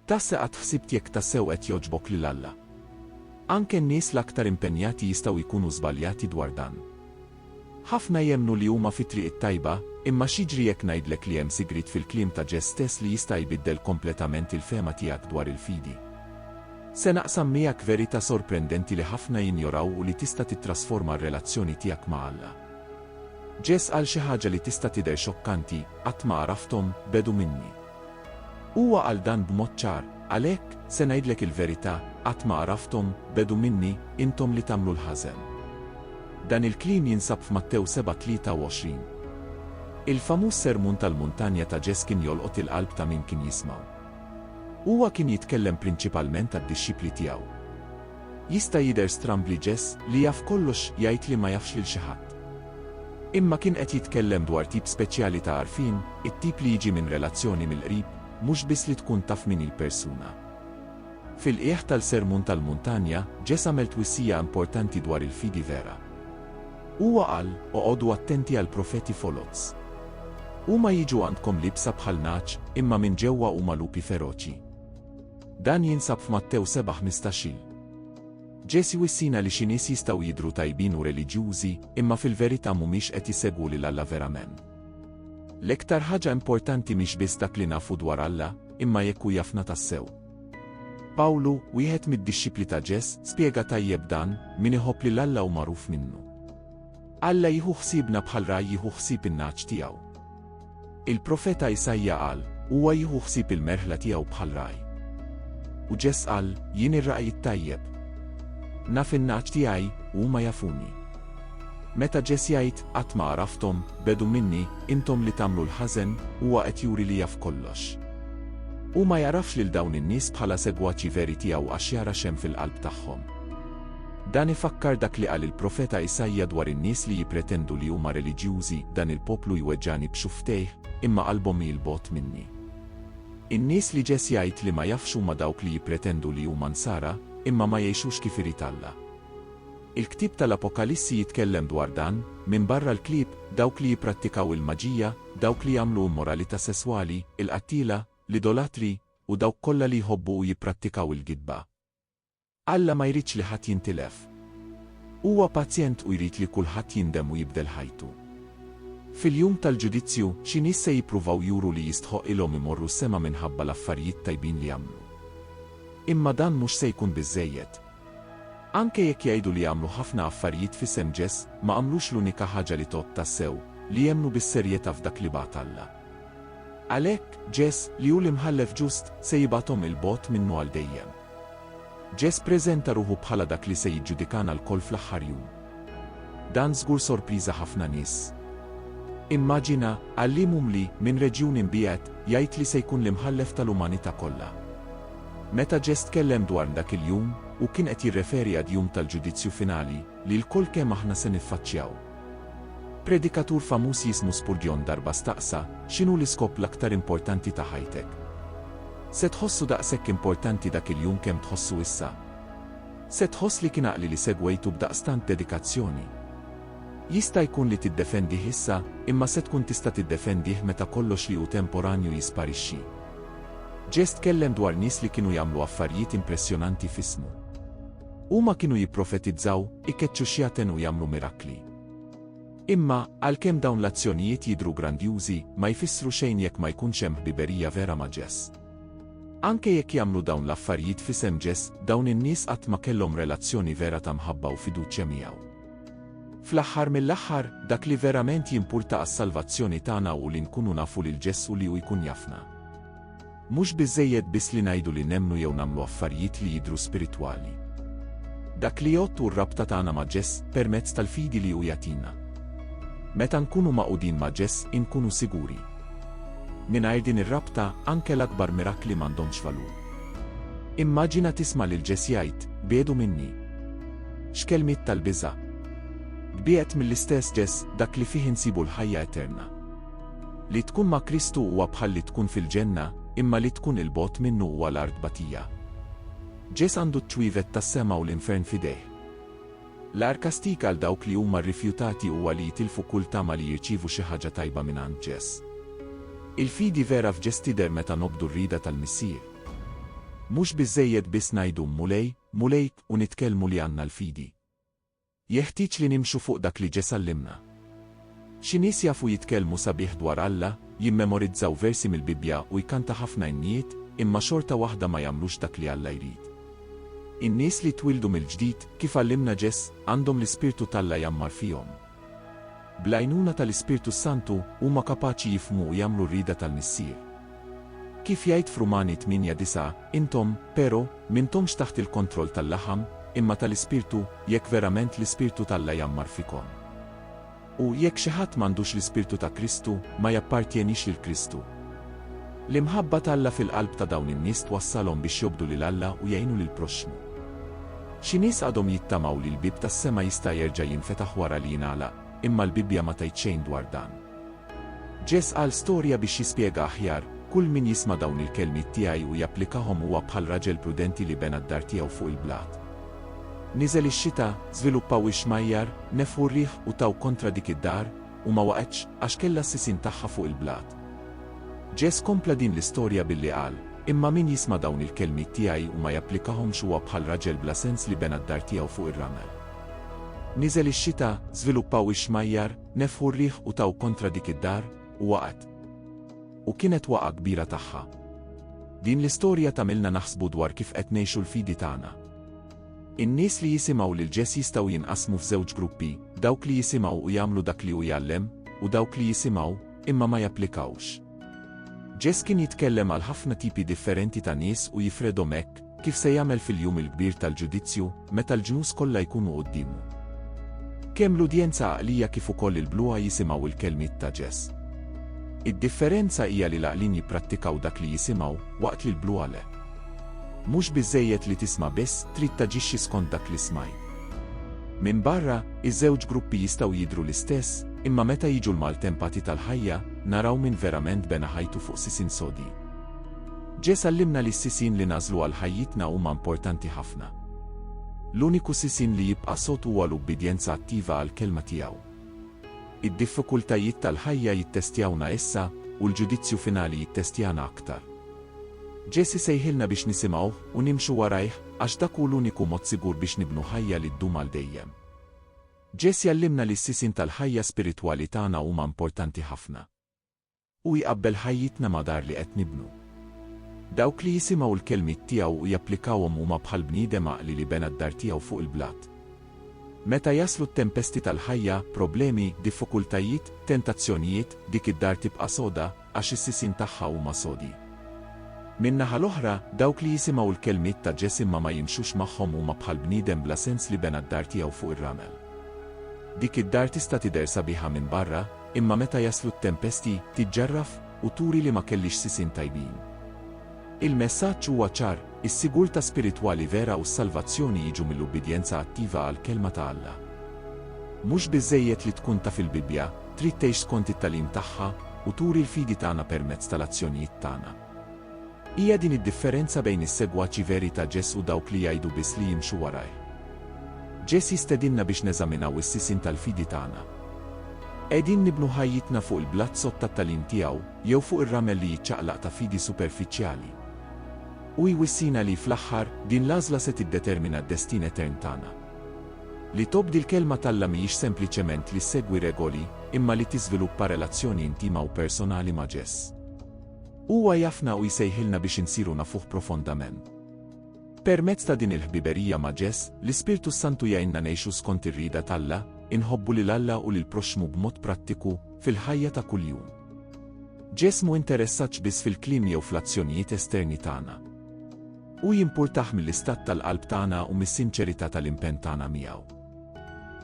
Tassa qatt ħsibt jekk tassew qed jogħġbok lil Alla? Anke n-nies l-aktar impenjati jistgħu jkunu żbaljati dwar dan. Ħafna jemmnu li huma fit-triq it-tajba, imma x'jiġri jekk ngħidlek li hemm sigriet fil-kliem ta' Ġess stess li jista' jbiddel kompletament il-fehma tiegħek dwar il-fidi? Se naqsam miegħek verità sorprendenti li ħafna jinjoraw u li tista' tittrasforma r-relazzjoni tiegħek ma' Alla. Ġess qal xi ħaġa li tista' tidher xokkanti, Qatt ma għarafthom, bgħedu minni. Huwa qal dan b'mod ċar, Għalhekk, se ngħidlek il-verità, qatt ma għarafthom, bgħedu minni, intom li tagħmlu l-ħażen. Dan il-kliem jinsab f'Mattew 7:23. Il-famuż Sermun tal-Muntanja ta' Ġess kien jolqot il-qalb ta' min kien jismgħu. Huwa kien jitkellem prinċipalment għad-dixxipli tiegħu. Jista' jidher stramb li Jess, li jaf kollox, jgħid li ma jafx lil xi ħadd. Imma kien qed jitkellem dwar tip speċjali ta' għarfien, it-tip li jiġi minn relazzjoni mill-qrib, mhux biss li tkun taf min hi l-persuna. Fil-qiegħ tal-Sermon tal-Muntanja, Jess għamel twissija importanti dwar il-fidi vera. Huwa qal, Oqogħdu attenti għall-profeti foloz. Huma jiġu għandkom liebsa bħal nagħaġ, imma minn ġewwa huma lupi feroċi. Dan jinsab f'Mattew 7:15. Ġesù wissina li xi nies jistgħu jidhru tajbin u reliġjużi, imma fil-verità mhumiex qed jsegwu lil Alla verament. L-iktar ħaġa importanti mhix biss dak li nafu dwar Alla, imma jekk hu jafna tassew. Pawlu, wieħed mid-dixxipli ta' Ġess, spjega tajjeb dan, min iħobb lil Alla hu magħruf minnu. Alla jieħu ħsiebna bħal ragħaj jieħu ħsieb in-nagħaġ tiegħu. Il-profeta Isaija qal, Huwa jieħu ħsieb il-merħla tiegħu bħal ragħaj. U Ġess qal, Jien ir-ragħaj it-tajjeb. Naf in-nagħaġ tiegħi, u huma jafuni. Meta Ġess jgħid, Qatt ma għarafthom, bgħedu minni, intom li tagħmlu l-ħażen, huwa qed juri li jaf kollox. Hu ma jagħrafx lil dawn in-nies bħala segwaċi veri tiegħu għax jara x'hemm fil-qalb tagħhom. Dan ifakkar dak li qal il-profeta Isaija dwar in-nies li jippretendu li huma reliġjużi, Dan il-poplu jweġġagħni b'xufftejh, imma qalbhom hi 'l bogħod minni. In-nies li Ġesj jgħid li ma jafx huma dawk li jippretendu li huma Nsara, imma ma jgħixux kif irid Alla. Il-ktieb tal-Apokalissi jitkellem dwar dan, minbarra l-klieb, dawk li jipprattikaw il-maġija, dawk li jagħmlu immoralità sesswali, il-qattiela, l-idolatri, u dawk kollha li jħobbu u jipprattikaw il-gidba. Alla ma jridx li ħadd jintilef. Huwa paċjent u jrid li kulħadd jindem u jibdel ħajtu. Fil-Jum tal-Ġudizzju, xi nies se jippruvaw juru li jistħoqqilhom imorru s-sema minħabba l-affarijiet tajbin li għamlu. Imma dan mhux se jkun biżżejjed. Anke jekk jgħidu li għamlu ħafna affarijiet f'isem Ġes, ma għamlux l-unika ħaġa li tgħodd tassew, li jemmnu bis-serjetà f'dak li bagħat Alla. Għalhekk, Ġes, li hu l-Imħallef ġust, se jibgħathom 'il bogħod minnu għal dejjem. Ġeż ppreżenta ruħu bħala dak li se jiġġudikana lkoll fl-aħħar jum. Dan żgur sorpriża ħafna nies. Immaġina, għalliem umli, minn reġjun imbiegħed, jgħid li se jkun l-Imħallef tal-umanità kollha. Meta Ġeż tkellem dwar dak il-jum, hu kien qed jirreferi għad-jum tal-ġudizzju finali, li lkoll kemm aħna se niffaċċjaw. Predikatur famuż jismu Spurgeon darba staqsa, X'inhu l-iskop l-aktar importanti ta' ħajtek? Se tħossu daqshekk importanti dak il-jum kemm tħossu issa? Se tħoss li kien għaqli li segwejtu b'daqstant dedikazzjoni? Jista' jkun li tiddefendih issa, imma se tkun tista' tiddefendih meta kollox li hu temporanju jisparixxi. Ġest tkellem dwar nies li kienu jagħmlu affarijiet impressjonanti f'ismu. Huma kienu jipprofetizzaw, ikeċċu xjaten u jagħmlu mirakli. Imma, għalkemm dawn l-azzjonijiet jidhru grandjużi, ma jfissru xejn jekk ma jkunx hemm ħbiberija vera ma' Ġess. Anke jekk jagħmlu dawn l-affarijiet f'isem Ġess, dawn in-nies qatt ma kellhom relazzjoni vera ta' mħabba u fiduċja miegħu. Fl-aħħar mill-aħħar, dak li verament jimpurta għas-salvazzjoni tagħna hu li nkunu nafu lil Ġess u li hu jkun jafna. Mhux biżżejjed biss li ngħidu li nemmnu jew nagħmlu affarijiet li jidhru spiritwali. Dak li jgħodd hu r-rabta tagħna ma' Ġeż permezz tal-fidi li hu jagħtina. Meta nkunu magħqudin ma' Ġeż inkunu siguri. Mingħajr din ir-rabta, anke l-akbar mirakli m'għandhomx valur. Immaġina tisma' lil Ġeż jgħid, Biedu minni. X'kelmiet tal-biża'! Tbiegħed mill-istess Ġeż, dak li fih insibu l-ħajja eterna. Li tkun ma' Kristu huwa bħal li tkun fil-Ġenna, imma li tkun 'il bogħod minnu huwa l-art batija. Ġeż għandu ċ-ċwievet tas-sema u l-infern f'idejh. L-agħar kastig għal dawk li huma rrifjutati huwa li jitilfu kull tama li jirċievu xi ħaġa tajba mingħand Ġeż. Il-fidi vera f'Ġeż tidher meta nobdu r-rieda tal-Missier. Mhux biżżejjed biss ngħidu, Mulej, Mulej, u nitkellmu li għandna l-fidi. Jeħtieġ li nimxu fuq dak li ġie sallimna. Xi nies jafu jitkellmu sabiħ dwar Alla, jimmemorizzaw versi mill-Bibbja u jkanta ħafna innijiet, imma xorta waħda ma jagħmlux dak li Alla jrid. In-nies li jtwieldu mill-ġdid, kif għallimna Ġeż, għandhom l-Ispirtu t'Alla jgħammar fihom. Bl-għajnuna tal-Ispirtu s-Santu, huma kapaċi jifhmu u jagħmlu r-rieda tal-Missier. Kif jgħid f'Rumani 8:9, Intom, pero, m'intomx taħt il-kontroll tal-laħam, imma tal-Ispirtu, jekk verament l-Ispirtu t'Alla jgħammar fikom. U, jekk xi ħadd m'għandux l-Ispirtu ta' Kristu, ma jappartjenix lil Kristu. L-imħabba t'Alla fil-qalb ta' dawn in-nies twassalhom biex jobdu lil Alla u jgħinu lill-proxxmu. Xi nies għadhom jittamaw li l-bieb tas-sema jista' jerġa' jinfetaħ wara li jingħalaq, imma l-Bibbja ma tgħid xejn dwar dan. Ġess qal storja biex jispjega aħjar, Kull min jisma' dawn il-kelmiet tiegħi u japplikahom huwa bħal raġel prudenti li bena d-dar tiegħu fuq il-blat. Niżel ix-xita, żviluppaw ix-xmajjar, nefħu r-riħ u taw kontra dik id-dar, u ma waqgħetx għax kellha s-sisien tagħha fuq il-blat. Ġeż kompla din l-istorja billi qal, Imma min jisma' dawn il-kelmiet tiegħi u ma japplikahomx huwa bħal raġel bla sens li bena d-dar tiegħu fuq ir-ramel. Niżel ix-xita, żviluppaw ix-xmajjar, nefħu r-riħ u taw kontra dik id-dar, u waqgħet. U kienet waqgħa kbira tagħha. Din l-istorja tagħmilna naħsbu dwar kif qed ngħixu l-fidi tagħna. In-nies li jisimgħu lil Ġes jistgħu jinqasmu f'żewġ gruppi, dawk li jisimgħu u jagħmlu dak li hu jgħallem, u dawk li jisimgħu, imma ma japplikawx. Ġes kien jitkellem għal ħafna tipi differenti ta' nies u jifredhom hekk kif se jagħmel fil-jum il-kbir tal-ġudizzju meta l-ġnus kollha jkunu quddiemu. Kemm l-udjenza għaqlija kif ukoll il-bluha jisimgħu l-kelmiet ta' Ġes. Id-differenza hija li l-għaqlin jipprattikaw dak li jisimgħu, waqt li l-bluha le. Mhux biżżejjed li tisma' biss, trid taġixxi skont dak li smajt. Minbarra, iż-żewġ gruppi jistgħu jidhru l-istess, imma meta jiġu l-maltempati tal-ħajja, naraw min verament bena ħajtu fuq sisin sodi. Ġeż għallimna li s-sisin li nagħżlu għal ħajjitna huma importanti ħafna. L-uniku sisin li jibqa' sod huwa l-ubbidjenza attiva għall-kelma tiegħu. Id-diffikultajiet tal-ħajja jittestjawna issa, u l-ġudizzju finali jittestjana aktar. Ġesù jsejħilna biex nisimgħuh u nimxu warajh għax dak hu l-uniku mod sigur biex nibnu ħajja li ddum għal dejjem. Ġesù jgħallimna li s-sisin tal-ħajja spiritwali tagħna huma importanti ħafna. Hu jqabbel ħajjitna ma' dar li qed nibnu. Dawk li jisimgħu l-kelmiet tiegħu u japplikawhom huma bħal bniedem għaqli li bena d-dar tiegħu fuq il-blat. Meta jaslu t-tempesti tal-ħajja, problemi, diffukultajiet, tentazzjonijiet, dik id-dar tibqa' soda, għax is-sisin tagħha huma sodi. Min-naħa l-oħra, dawk li jisimgħu l-kelmiet ta' Ġes imma ma jimxux magħhom huma bħal bniedem bla sens li bena d-dar tiegħu fuq ir-ramel. Dik id-dar tista' tidher sabiħa minn barra, imma meta jaslu t-tempesti, tiġġarraf u turi li ma kellhiex sisin tajbin. Il-messaġġ huwa ċar, is-sigurtà spiritwali vera u s-salvazzjoni jiġu mill-ubbidjenza attiva għall-Kelma ta' Alla. Mhux biżżejjed li tkun taf il-Bibbja, trid tgħix skont it-tagħlim tagħha u turi l-fidi tagħna permezz tal-azzjonijiet tagħna. Hija din id-differenza bejn is-segwaċi veri ta' Ġes u dawk li jgħidu biss li jimxu warajh. Ġes jistedinna biex neżaminaw is-sisin tal-fidi tagħna. Qegħdin nibnu ħajjitna fuq il-blat sod tat-tagħlim tiegħu jew fuq ir-ramel li jiċċaqlaq ta' fidi superfiċjali? Hu jwissina li, fl-aħħar, din l-għażla se tiddetermina d-destin etern tagħna. Li tobdi l-Kelma t'Alla mhijiex sempliċement li ssegwi regoli, imma li tiżviluppa relazzjoni intima u personali ma' Ġes. Huwa jafna u jsejħilna biex insiru nafuh profondament. Permezz ta' din il-ħbiberija ma' Ġes, l-Ispirtu s-Santu jgħinna ngħixu skont ir-rieda t'Alla, inħobbu lil Alla u lill-proxxmu b'mod prattiku, fil-ħajja ta' kuljum. Ġes m'hu interessat biss fil-kliem jew fl-azzjonijiet esterni tagħna. Hu jimpurtah mill-istat tal-qalb tagħna u mis-sinċerità tal-impenn tagħna miegħu.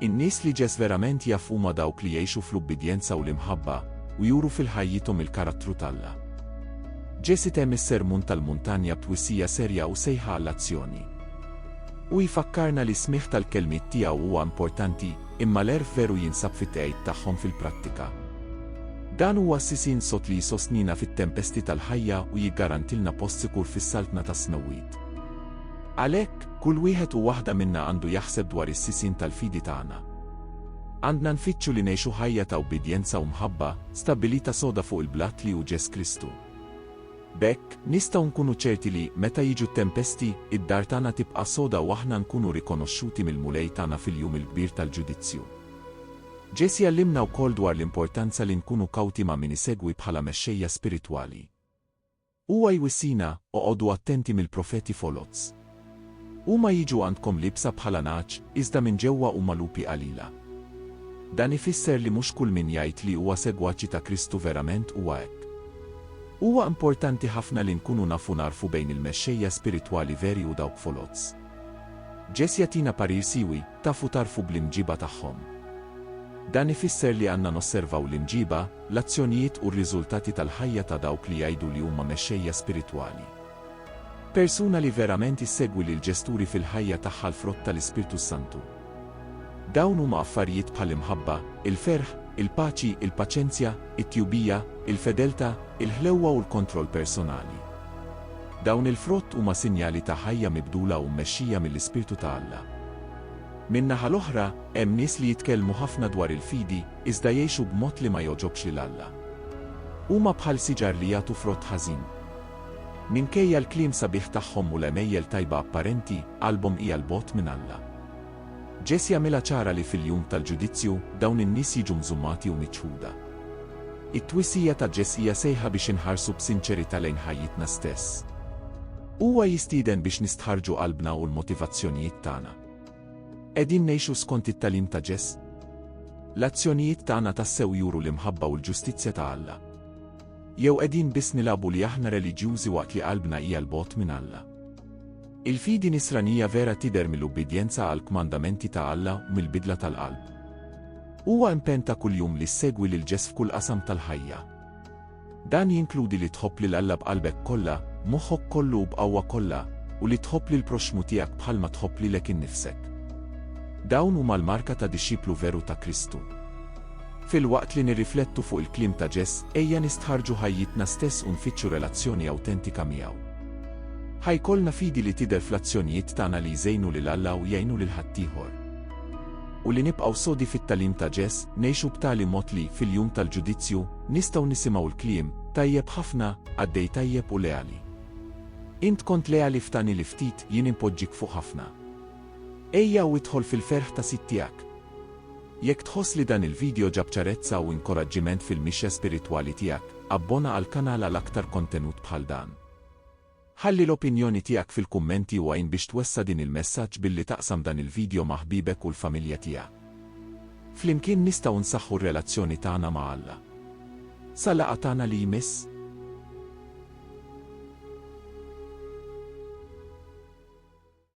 In-nies li Ġes verament jaf huma dawk li jgħixu fl-ubbidjenza u l-imħabba u juru fil-ħajjithom il-karattru t'Alla. Ġes itemm is-Sermun tal-Muntanja b'twissija serja u sejħa għall-azzjoni. Hu jfakkarna li s-smigħ tal-kelmiet tiegħu huwa importanti, imma l-għerf veru jinsab fit-tqegħid tagħhom fil-prattika. Dan huwa s-sisin sod li jsostnina fit-tempesti tal-ħajja u jiggarantilna post sikur fis-saltna tas-smewwiet. Għalhekk, kull wieħed u waħda minna għandu jaħseb dwar is-sisin tal-fidi tagħna. Għandna nfittxu li ngħixu ħajja ta' ubbidjenza u mħabba, stabbilita soda fuq il-blat li hu Ġes Kristu. B'hekk, nistgħu nkunu ċerti li, meta jiġu t-tempesti, id-dar tagħna tibqa' soda u aħna nkunu rikonoxxuti mill-Mulej tagħna fil-jum il-kbir tal-ġudizzju. Ġesù jgħallimna wkoll dwar l-importanza li nkunu kawti ma' min isegwi bħala mexxejja spiritwali. Huwa jwissina, Oqogħdu attenti mill-profeti foloz. Huma jiġu għandkom liebsa bħala nagħaġ, iżda minn ġewwa huma lupi qalila. Dan ifisser li mhux kull min jgħid li huwa segwaċi ta' Kristu verament huwa hekk. Huwa importanti ħafna li nkunu nafu nagħrfu bejn il-mexxejja spiritwali veri u dawk foloz. Jess jagħtina parir siwi, Tafu tagħrfu bl-imġiba tagħhom. Dan ifisser li għandna nosservaw l-imġiba, l-azzjonijiet u r-riżultati tal-ħajja ta' dawk li jgħidu li huma mexxejja spiritwali. Persuna li verament issegwi lill-Ġesturi fil-ħajja tagħha l-frott tal-Ispirtu s-Santu. Dawn huma affarijiet bħall-imħabba, il-ferħ, il-paċi, il-paċenzja, it-tjubija, il-fedeltà, il-ħlewwa u l-kontroll personali. Dawn il-frott huma sinjali ta' ħajja mibdula u mmexxija mill-Ispirtu ta' Alla. Min-naħa l-oħra, hemm nies li jitkellmu ħafna dwar il-fidi, iżda jgħixu b'mod li ma jogħġobx lil Alla. Huma bħal siġar li jagħtu frott ħażin. Minkejja l-kliem sabiħ tagħhom u l-għemejjel tajba apparenti, qalbhom hija 'l bogħod minn Alla. Ġesù jagħmilha ċara li fil-jum tal-ġudizzju, dawn in-nies jiġu mżummati u miċħuda. It-twisija ta' Ġesù hija sejħa biex inħarsu b'sinċerità lejn ħajjitna stess. Huwa jistieden biex nistħarrġu qalbna u l-motivazzjonijiet tagħna. Qegħdin ngħixu skont it-tagħlim ta' Ġesù? L-azzjonijiet tagħna tassew juru l-imħabba u l-ġustizzja ta' Alla? Jew qegħdin biss nilagħbu li aħna reliġjużi waqt li qalbna hija 'l bogħod minn Alla? Il-fidi Nisranija vera tidher mill-ubbidjenza għall-kmandamenti ta' Alla u mill-bidla tal-qalb. Huwa impenn ta' kuljum li ssegwi lil Ġes f'kull qasam tal-ħajja. Dan jinkludi li tħobb lil Alla b'qalbek kollha, b'moħħok kollu u b'qawwa kollha, u li tħobb lill-proxxmu tiegħek bħalma tħobb lilek innifsek. Dawn huma l-marka ta' dixxiplu veru ta' Kristu. Filwaqt li nirriflettu fuq il-kliem ta' Ġeż, ejja nistħarrġu ħajjitna stess u nfittxu relazzjoni awtentika miegħu. Ħa jkollna fidi li tidher fl-azzjonijiet tagħna li jżejnu lil Alla u jgħinu lil ħaddieħor. U li nibqgħu sodi fit-tagħlim ta' Ġeż, ngħixu b'tali mod li, fil-jum tal-ġudizzju, nistgħu nisimgħu l-kliem, Tajjeb ħafna, qaddej tajjeb u leali. Int kont leali f'tani li ftit, jien inpoġġik fuq ħafna. Ejja u idħol fil-ferħ ta' Sid tiegħek. Jekk tħoss li dan il-video ġab ċarezza u inkoraġġiment fil-mixja spiritwali tiegħek, abbona għall-kanal għal aktar kontenut bħal dan. Ħalli l-opinjoni tiegħek fil-kummenti u għin biex twessa' din il-messaġġ billi taqsam dan il-video ma' ħbiebek u l-familja tiegħek. Flimkien nistgħu nsaħħu r-relazzjoni tagħna ma' Alla. Sa laqgħa tagħna li jmiss.